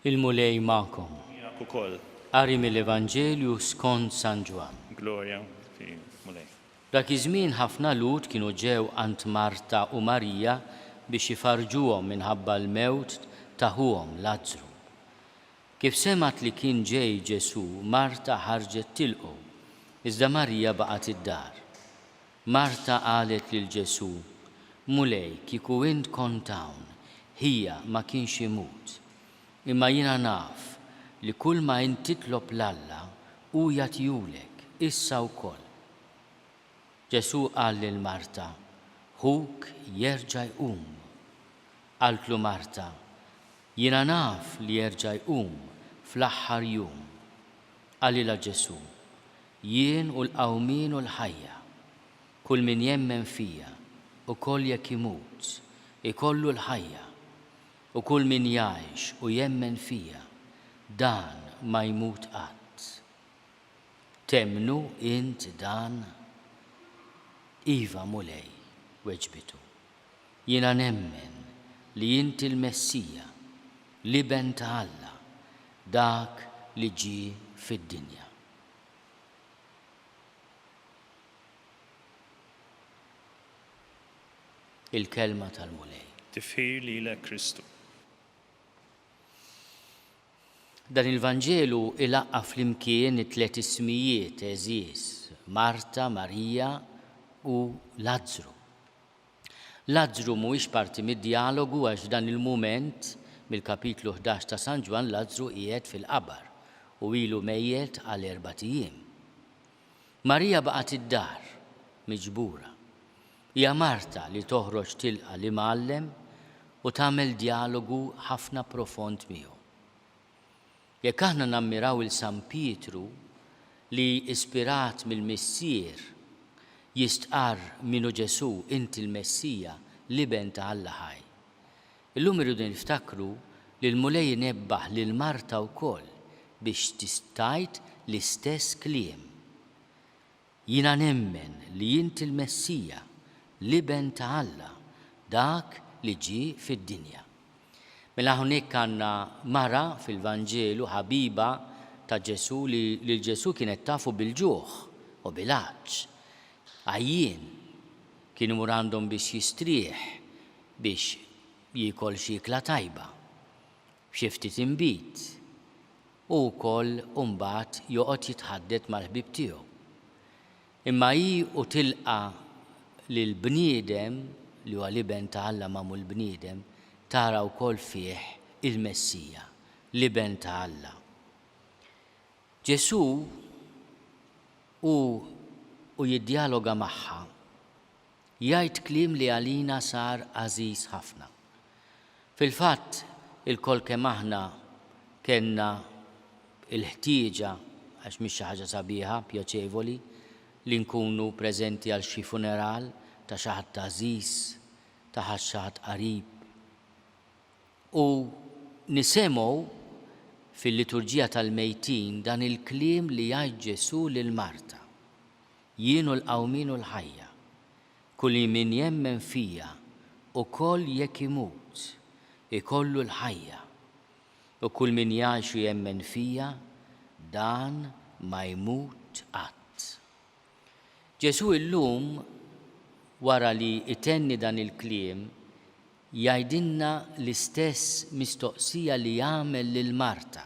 Il-Mulej magħkom. Miegħek ukoll. Qari mill-Evanġelju skont San Ġwann. Glorja fi Mulej. Dak iż-żmien ħafna Lhud kienu ġew għand Marta u Marija biex ifarrġuhom minħabba l-mewt ta' ħuhom Lazzru. Kif semgħet li kien ġej Ġesù, Marta ħarġet tilqgħu, iżda Marija baqgħet id-dar. Marta qalet lil Ġesù, Mulej, kieku int kont hawn, ħija ma kienx imut. Imma jiena naf li kull ma int titlob 'l Alla, hu jagħtihulek, issa wkoll. Ġesù qal lil Marta, Ħuk jerġa' jqum. Qaltlu Marta, Jiena naf li jerġa' jqum fl-aħħar jum. Qalilha Ġesù, Jien hu l-qawmien u l-ħajja. Kull min jemmen fija, ukoll jekk imut, ikollu l-ħajja. U kull min jgħix u jemmen fija, dan ma jmut qatt. Temmnu int dan? Iva, Mulej, weġbitu. Jiena nemmen li inti l-Messija, l-Iben ta' Alla, dak li ġie fid-dinja. Il-Kelma tal-Mulej. Tifħir lilek Kristu. Dan il-Vanġelu ilaqqa' flimkien it-tliet ismijiet għeżież, Marta, Marija, u Lazzru. Lazzru mhuwiex parti mid-djalogu għax f'dan il-mument, mill-kapitlu ħdax ta' San Ġwann Lazzru qiegħed fil-qabar u ilu mejjet għal erbat ijiem. Marija baqgħet id-dar, miġbura. Hija Marta li toħroġ tilqa' l-Imgħallem u tagħmel djalogu ħafna profond miegħu. Jekk aħna nammiraw 'il San Pietru li, ispirat mill-Missier, jistqarr minhu Ġesù, Inti l-Messija, l-Iben ta' Alla ħaj. Illum irridu niftakru li l-Mulej inebbaħ lil Marta wkoll biex tgħid l-istess kliem. Jiena nemmen li int il-Messija, l-Iben ta' Alla, dak li ġie fid-dinja. Mela hawnhekk għandna mara fil-Vanġelu ħabiba ta' Ġesù li lil Ġesù kienet tafu bil-ġuħ u bil-għatx. Għajjien, kien imur għandhom biex jistrieħ, biex jiekol xi ikla tajba. F'xi ftit inbid, hu wkoll u mbagħad joqgħod jitħaddet mal-ħbieb tiegħu. Imma hi u tilqa' lill-bniedem, li huwa l-Iben ta' Alla magħmul bniedem, tara wkoll fih il-Messija, l-Iben ta' Alla. Ġesù hu u jiddjaloga magħha. Jgħid kliem li għalina sar għażiż ħafna. Fil-fatt, ilkoll kemm aħna kellna l-ħtieġa, għax mhix xi ħaġa sabiħa, pjaċevoli, li nkunu preżenti għal xi funeral ta' xi ħadd għażiż, ta' xi ħadd qarib. U nisemgħu fil-Liturġija tal-Mejtin dan il-kliem li jgħid Ġesù lil Marta. Jien hu l-qawmien u l-ħajja. Kulmin jemmen fija, ukoll jekk imut, ikollu l-ħajja. U kulmin jgħix u jemmen fija, dan ma jmut qatt. Ġesù illum, wara li jtenni dan il-kliem, jgħidilna l-istess mistoqsija li għamel lil Marta,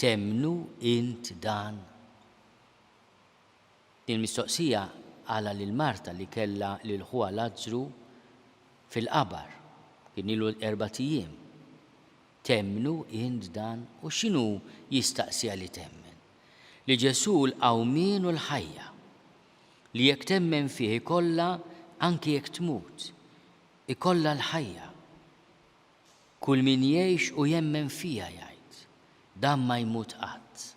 Temmnu int dan? Il-mistoqsija għala lil marta li kellha lil ħuha Lazzru fil-qabar, kien ilu erbat ijiem, Temmnu int dan? U x'inhu jistaqsiha li temmen? Li Ġesù l-qawmien u l-ħajja. Li jekk temmen fih ikollha anki jekk tmut, ikollha l-ħajja. Kull min jgħix u jemmen fija jgħid, dan ma jmut qatt.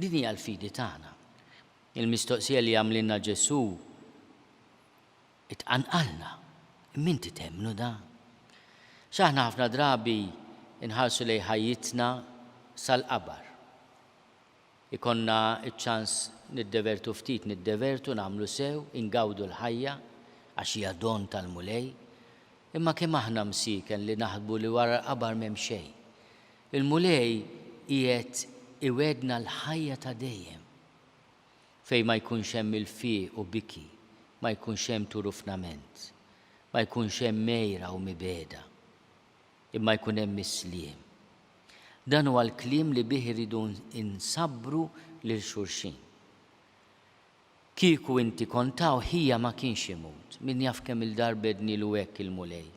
Din hija l-fidi tagħna. Il-mistoqsija li għamlilna Ġesù tqanqalna, Imma inti temmnu dan? X'aħna ħafna drabi nħarsu lejn ħajjitna sal-qabar. Ikollna ċ-ċans niddevertu ftit, niddevertu, nagħmlu sew, ingawdu l-ħajja, għax hija don tal-Mulej. Imma kemm aħna msieken li naħsbu li wara l-qabar m'hemm xejn. Il-Mulej qiegħed iwegħdna l-ħajja ta' dejjem, fejn ma jkunx hemm ilfiq u biki, ma jkunx hemm turufnament, ma jkunx hemm għira u mibegħda, imma jkun hemm is-sliem. Dan huwa l-kliem li bih irridu nsabbru lil xulxin. Kieku inti kont hawn ħija ma kienx imut. Min jaf kemm-il darba għednilu hekk il-Mulej.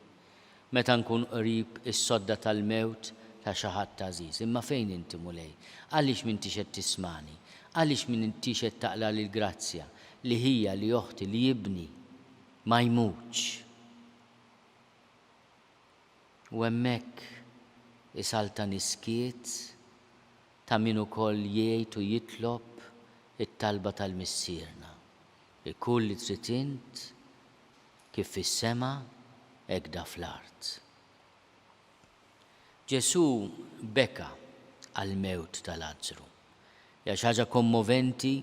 Meta nkun qrib is-sodda tal-mewt ta' xi ħadd għażiż. Imma fejn inti, Mulej? Għaliex m'intix qed tismagħni? Għaliex m'intix qed taqlagħli l-grazzja, li ħija, li oħti, li ibni ma jmutx? U hemmhekk isaltani s-skiet Ta' min ukoll jgħid u jitlob it-talba tal-Missierna, Ikun li trid int, kif fis-sema, hekk da fl-art. Ġesù beka għall-mewt ta' Lazzru. Hija xi ħaġa kommoventi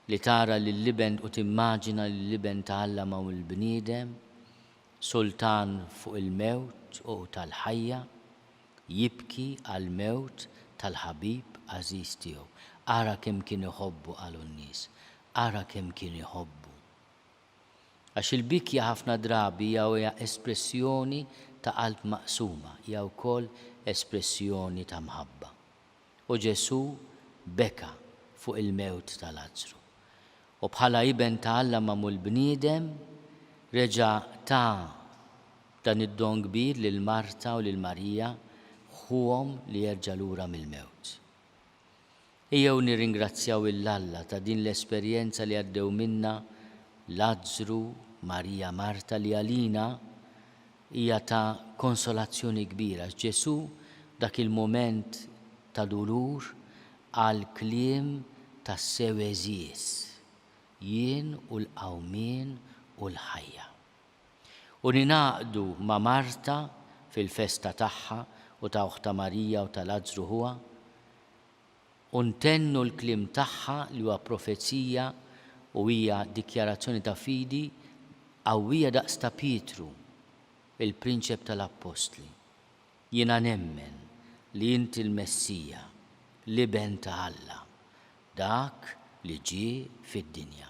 li tara lill-Iben u timmaġina lill-Iben ta' Alla ma' l-bniedem, sultan fuq il-mewt u tal-ħajja. Jibki għall-mewt tal-ħabib għażiż tiegħu. Ara kemm kien iħobbu, qalu n-nies. Ara kemm kien iħobbu. Għax il-bikja ħafna drabi hija espressjoni ta' qalb maqsuma, hija wkoll espressjoni ta' mħabba. U Ġesù beka fuq il-mewt ta' Lazzru, u bħala Iben ta' Alla magħmul bniedem, reġa' ta dan id-don kbir lil Marta u lil Marija, ħuhom li jerġa' lura mill-mewt. Ejjew nirringrazzjaw 'il Alla ta' din l-esperjenza li għaddew minnha Lazzru, Marija, Marta li għalina, Hija ta' konsolazzjoni kbira x'Ġesù f'dak il-mument ta' dulur qal kliem tassew għeżież, Jien hu l-qawmien u l-ħajja. U ningħaqdu ma' Marta fil-festa tagħha u ta' oħtha Marija u ta' Lazzru ħuha, u ntennu l-kliem tagħha li huwa profezija u hija dikjarazzjoni ta' fidi qawwija daqs ta' Pietru, il-prinċep tal-appostli, Jiena nemmen li inti l-Messija, l-Iben ta' Alla, dak li ġie fid-dinja.